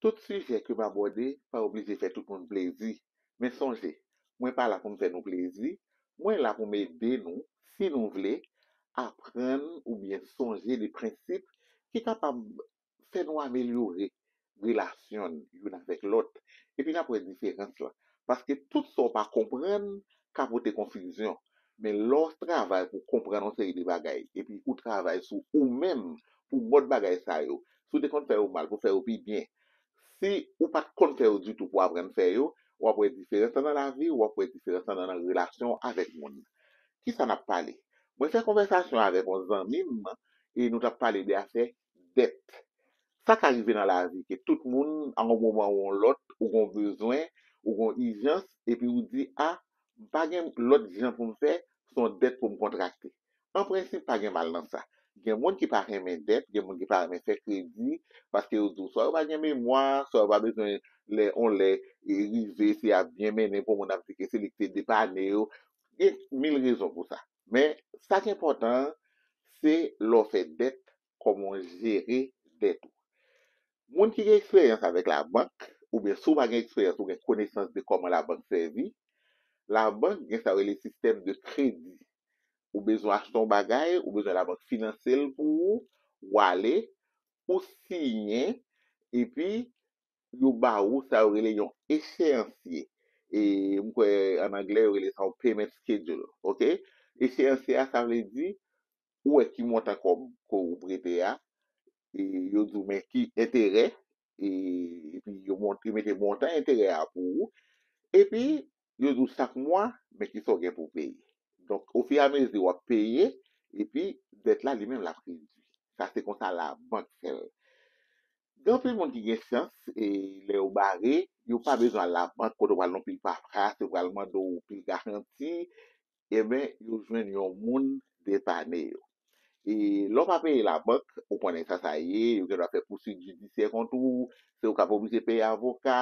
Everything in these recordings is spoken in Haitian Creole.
Tout sijè ke m abòde pa oblije fè tout moun plezi, men sonje, mwen pa la pou m fè nou plezi, mwen la pou m ede nou, si nou vle, aprann oubyen sonje de prensip ki kapab fè nou amelyore relasyon n youn avèk lòt, epi n ap wè diferans lan, paske tout sa w pa konprann ka pote konfizyon, men lè w travay pou w konprann yon seri de bagay epi ou travay sou ou menm pou mòd bagay sa yo, si w te konn fè yo mal pou w fè yo pi byen, si ou pa t konn fè yo ditou pou w aprann fè yo, w ap wè diferans lan nan lavi w, w ap wè diferans lan nan relasyon w avèk moun. Kisa n ap pale? Mwen fè konvèsasyon avèk yon zanmi m e nou t ap pale de afè dèt. Sa ka rive nan lavi ke tout moun a yon moman ou yon lòt ou gen yon bezwen, ou gen yon ijans epi ou di a m pa gen lòt jan pou m fè se yon dèt pou m kontrakte. An prensip pa gen mal nan sa. Gen moun ki pa renmen dèt, gen moun ki pa renmen fè kredi paske yo di w swa yo pa gen memwa, swa yo pa bezwen lè yon lè rive se ap byen mennen pou moun ap di ke se li ki te depane yo. Gen mil rezon pou sa. Men, sa k enpòtan an, se lè w fè dèt, kòman w jere dèt ou. Moun ki gen eksperyans avèk labank, oubyen si w pa gen eksperyans ou gen konesans de kòman labank sèvi, labank gen sa yo rele sistèm de kredi. Ou bezwen achte yon bagay, ou bezwen labank finanse l pou ou, w ale, ou siyen, epi pou yo ba ou sa yo rele yon echeyansye e m kwè an anglè yo rele sa yon payment schedule ok echeyansye a sa vle di ou wè ki montan kòb ke ou prete a e yo di w men ki enterè e epi yo mete montan enterè a pou ou epi yo di w chak mwa men ki sa w gen pou w peye donk ofiramezi w ap peye epi dèt la li menm l ap redwi sa se konsa labank fè l. Gen anpil moun ki gen chans e lè yo bare, yo pa bezwen al labank kote yo pral nan pil papras, yo pral mande w pil garanti, enben yo jwenn yon moun depane yo. E lè w pa peye labank, ou konnen sa sa ye, yo gendwa fè pouswit jidisyè kont ou, se ou k ap oblije peye avoka,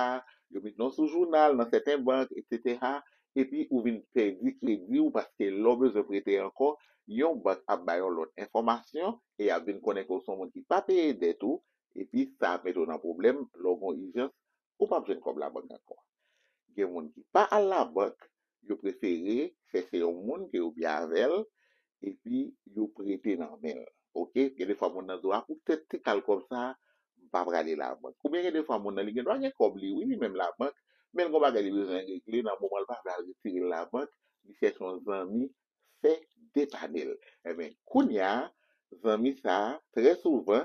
yo met non w sou jounal nan sèten bank, eksetera, epi ou vin pèdi kredi ou paske lè w bezwen prete ankò, yon bank ap bay yon lòt enfòmasyon e y ap vin konnen ke w se yon moun ki pa peye dèt ou epi sa ap mete w nan pwoblèm lè w gen yon ijans ou p ap jwenn kòb labank ankò. Gen moun ki pa al labank, yo prefere chèche yon moun ke yo byen avè l epi yo prete nan menl ok gen de fwa moun nan do a pou tèt ti kal kòb sa m pa prale labank oubyen gen de fwa moun nan li gen dwa gen kòb li wi li menm labank menl gon bagay li bezwen regle nan moman l pa vle al retirel labank li chèche yon zanmi fè depanel enben kounya zanmi sa trè souvan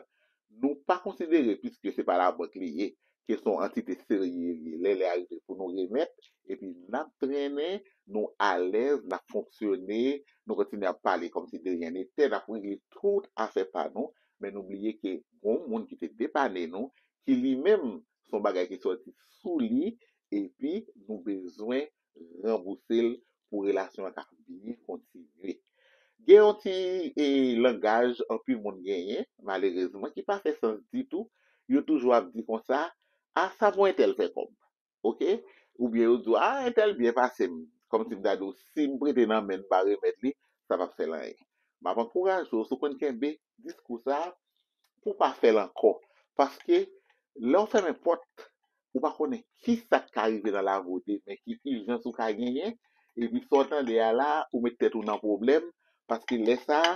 nou pa konsidere piske se pa labank li ye ke son antite serye li ye lè lè a rive pou nou remèt epi nap trennen nou alèz nap fonksyone nou kontinye ap pale kòmsi de ryen netè nap regle tout afè pa nou men nou bliye ke gon moun ki te depane nou ki li menm son bagay ki sòti sou li epi nou bezwen ranbouse l pou relasyon an ka byen kontinye. Gen yon ti langaj anpil moun genyen, malerezman, ki pa fè sans ditou, yo toujou ap di konsa, a sa pou entèl fè kòb? Ok? Oubyen yo di w, a entèl byen pase m, kòmsi m ta di w, si m prete nan men m pa remèt li, sa pap fè l anyen. M ap ankouraje w, si w konn kenbe diskou sa a, pou w pa fè l ankò. Paske, lè w fèmen pòt, ou pa konnen kisa k ka rive nan lavi w demen, ki ijans ou ka genyen, epi sa w tande a la a, ou met tèt ou nan pwoblèm, paske lè sa a,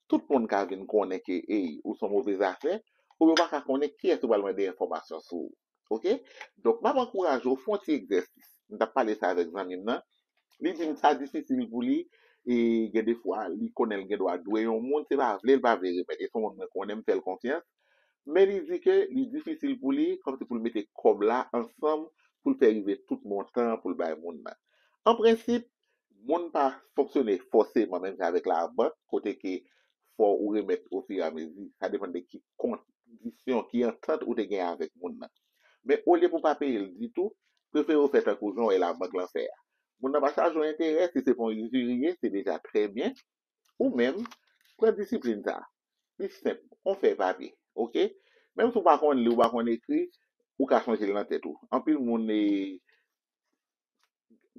tout moun ka vin konnen ke, ey, ou s on move zafè, oubyen ou pa ka konnen kiyès ou pral mande enfòmasyon sou ou. Oke? Donk, m ap ankouraje w, fè yon ti egzèsis. M t ap pale sa avèk zanmi m nan, li di m sa difisil pou li, e gen defwa, li konnen l gendwa dwe yon moun, se pa vle l pa vle remèt, e s on moun mwen konnen, m fè l konfyans, Men li di ke li difisil pou li kòmsi pou l mete kòb la ansanm pou l fè rive tout montan an pou l bay moun nan. An prensip, moun pa fonksyone fòseman menm jan avèk labank kote ke fò ou remèt ofiramezi, sa depann de ki kondisyon, ki antant ou te gen avèk moun nan. Men olye pou w pa peye l ditou, prefere w fè tankou jan w wè labank lan fè a. Moun nan pa chaje w enterè, si se pa yon izirye, se deja trè byen, Ou menm, pran disiplin sa a. Li senp, on fèy papye, ok? Menm si ou pa konn li, ou pa konn ekri, ou ka sonje l nan tèt ou. Anpil moun e,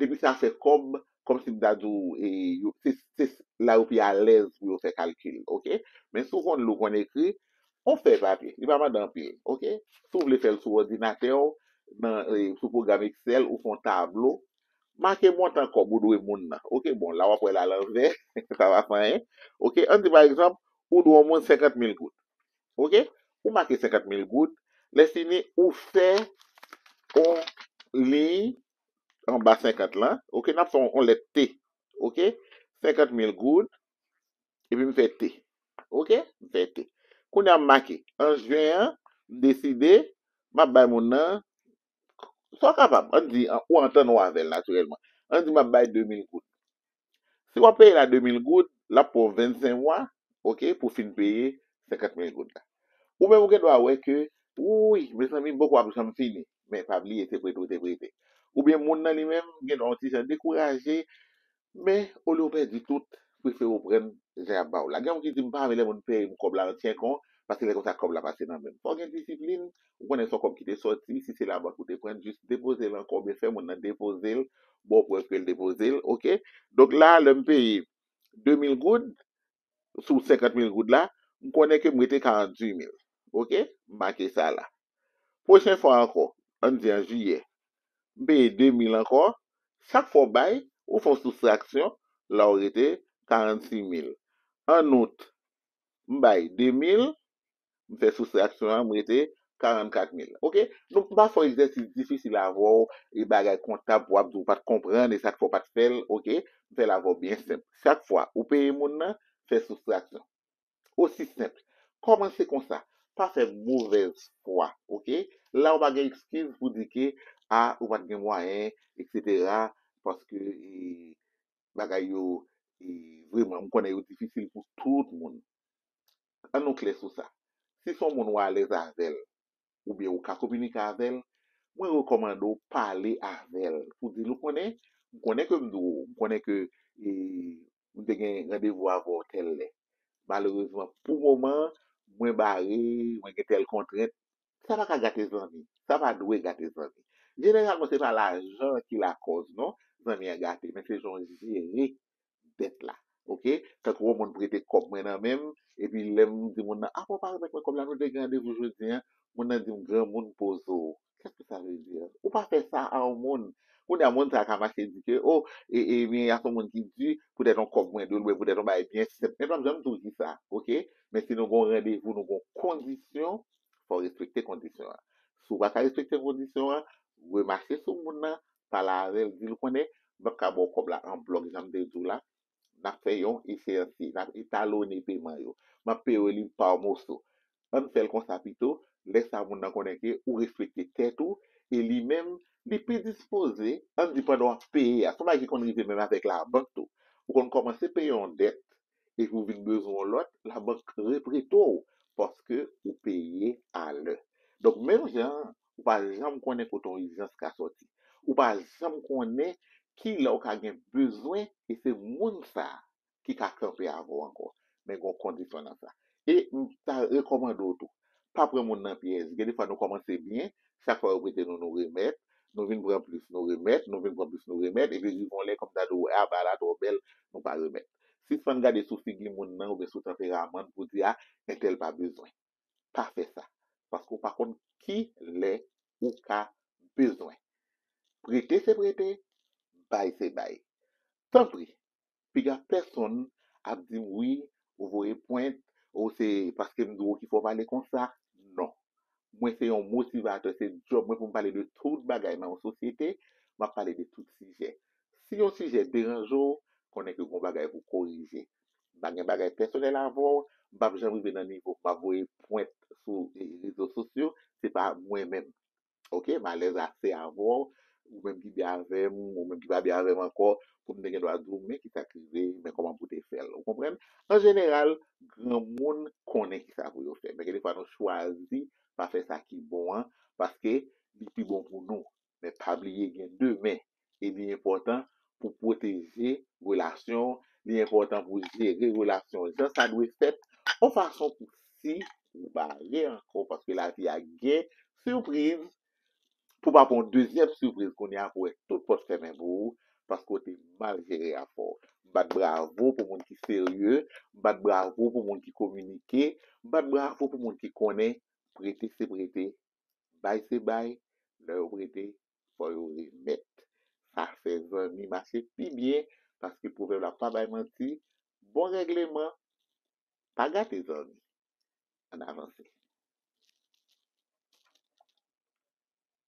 depi sa fè kòb, kòmsi m ta di w e, yo, se, se la yo pi alèz pou yo fè kalkil, ok? Men si ou konn li, ou konn ekri, on fèy papye, li pa mande anpil, ok? Si ou vle fè l sou òdinatè w, nan, sou pwogram Excel, ou fè on tablo, make montan kòb ou dwe moun nan ok bon la wap wèl alanvè sa pa fè anyen ok ann di pa egzanp ou dwe yon moun 50 mil goud ok ou make 50 mil goud lèfini ou fè yon liy anba 50 lan ok nap fè yon lèt t ok 50 mil goud epi m fè t ok m fè t kounya m make an jen an m deside map bay moun nan Sa w kapab, an n di, ou antann ou avè l natirèlman. An n di m ap bay 2000 goud. Si w ap peye l a 2000 goud, l ap pran w 25 mwa, oke, pou w fin peye 50 mil goud la. Ou menm ou gen dwa wè ke, wouy, mezanmi, bòk ou ap janm fini. Men, pa bliye, se prete ou te prete. Oubyen moun nan li menm gen dwa yon ti jan dekouraje, Men, olye w pèdi tout, prefere w prann jan y ap ba w la. Gen moun ki di, m pa renmen lè moun peye m kòb la nan tyenk an, paske lè konsa kòb la pase nan men m. Fò w gen disiplin, ou konnen se yon kòb ki te sòti, si se labank ou te pran, jis depoze l ankò oubyen fè moun nan depoze l, ba w prèv ke l depoze l, ok. Donk la, lè m peye 2000 goud, sou 50 mil goud la, m konnen ke m rete 48 mil. Ok? M make sa la. Pwochen fwa ankò, an n di an jiyè, m peye 2 mil ankò, chak fwa w bay, ou fè yon soustraksyon, la w rete 46 mil. An out, m bay 2 mil, M fè soustraksyon an, m rete 44 mil. Ok, nou m pa fè w egzèsis difisil avè w e bagay kontab pou w ap di w pa t konprann e sa k fè w pa t fè l, ok. M fè l avè w byen senp. Chak fwa ou peye moun nan, fè soustraksyon. Osi senp. Kòmanse konsa. Pa fè movèz fwa, ok. La ou pa gen ekskiz pou di ke a ou pa t gen mwayen eksetera paske bagay yo vreman m konnen yo difisil pou tout moun. An nou klè sou sa, si son moun ou alèz avèl oubyen ou ka kominike avèl, mwen rekòmande w pale avèl pou dil ou konnen, m konnen ke m di w, m konnen ke e m te gen randevou avè w tèl lè. Malerezman pou moman mwen bare, mwen gen tèl kontrent. Sa pa ka gate zanmi, sa pa dwe gate zanmi. Jeneralman se pa lajan ki lakòz non zanmi an gate men se jan w jere dèt la ok tankou yon moun prete kòb mwen nan menm epi lèm di moun nan apa w pa remèt mwen kòb la nou te gen randevou jodi an moun nan dim granmoun poze w kèske sa vle di ou pa fè sa a yon moun kounye a moun sa ka mache di ke oh ebyen ya son moun ki di poutèt yon kòb mwen dwe l oubyen poutèt yon bagay byen senp men l pap janm di w ki sa ok men si nou gon randevou nou gon kondisyon fò w respekte kondisyon an si w pa ka respekte kondisyon an remache sou moun nan pale avèl dil konnen bank ka baw kòb la an blòk janm te diw la nap fè yon echansi nap etalone peman yo map peyew li pa moso ann fèl konsa pito lè sa moun nan konnen ke ou respekte tèt ou e li menm li pi dispoze ann di pandan wap peye a son bagay ki konn rive menm avèk labank tou ou konn kòmanse peye yon dèt epi ou vin bezwen yon lòt, labank reprete w paske ou peye a lè. Donk menm jan an, ou pa janm konnen kote yon ijans ka sòti. Ou pa janm konnen ki lè ou ka gen bezwen e se moun sa ki ka kanpe avè w ankò. Men gen yon kondisyon nan sa. E m ta rekòmande w tou, Pa pran moun nan pyèj. Gen defwa nou kòmanse byen, chak fwa yo prete nou, nou remèt, nou vin pran plis, nou remèt, nou vin pran plis, nou remèt, epi rive yon lè kòm ta di w, a ba la twò bèl, nou pa remèt. Sispann gade sou figi moun nan oubyen sou tanperaman l pou w di a entèl pa bezwen. Pa fè sa. Paske w pa konn ki lè ou ka bezwen. Prete se prete, bay se bay. Tanpri, Piga pèsonn ap di m wi ou voye pwent, o se paske m di w ou ki fè w pale konsa. Non. Mwen se yon motivatè, se djòb mwen pou m pale de tout bagay nan yon sosyete, m ap pale de tout sijè. Si yon sijè deranje w, konnen ke gon bagay pou w korije. M pa gen bagay pèsonèl avè w, m pa p janm rive nan nivo pou m ap voye pwent sou rezo sosyo, se pa mwen menm. ok m alèz ase avè w ou menm ki byen avè m ou menm ki pa byen avè m ankò pou m te gen dwa di w men ki sa k rive men kòman pou w te fè l ou konprann an jeneral granmoun konnen ki sa pou yo fè men gen defwa nou chwazi pa fè sa ki bon an paske li pi bon pou nou men pa bliye gen demen e li enpòtan pou pwoteje relasyon w, li enpòtan pou jere relasyon w jan sa dwe fèt yon fason pou si ou pa ale ankò paske lavi a gen sipriz pou w pa pran yon dezyèm sipriz kounye a pou w wè tout pòt fèmen pou ou paske w te mal jere rapò w. M bat bravo pou moun ki serye, m bat bravo pou moun ki kominike, m bat bravo pou moun ki konnen prete se prete, bay se bay, lè yo prete fò yo remèt sa fè zanmi mache pi byen paske pwovèb la pa bay manti bon règleman pa gate zanmi ann avanse.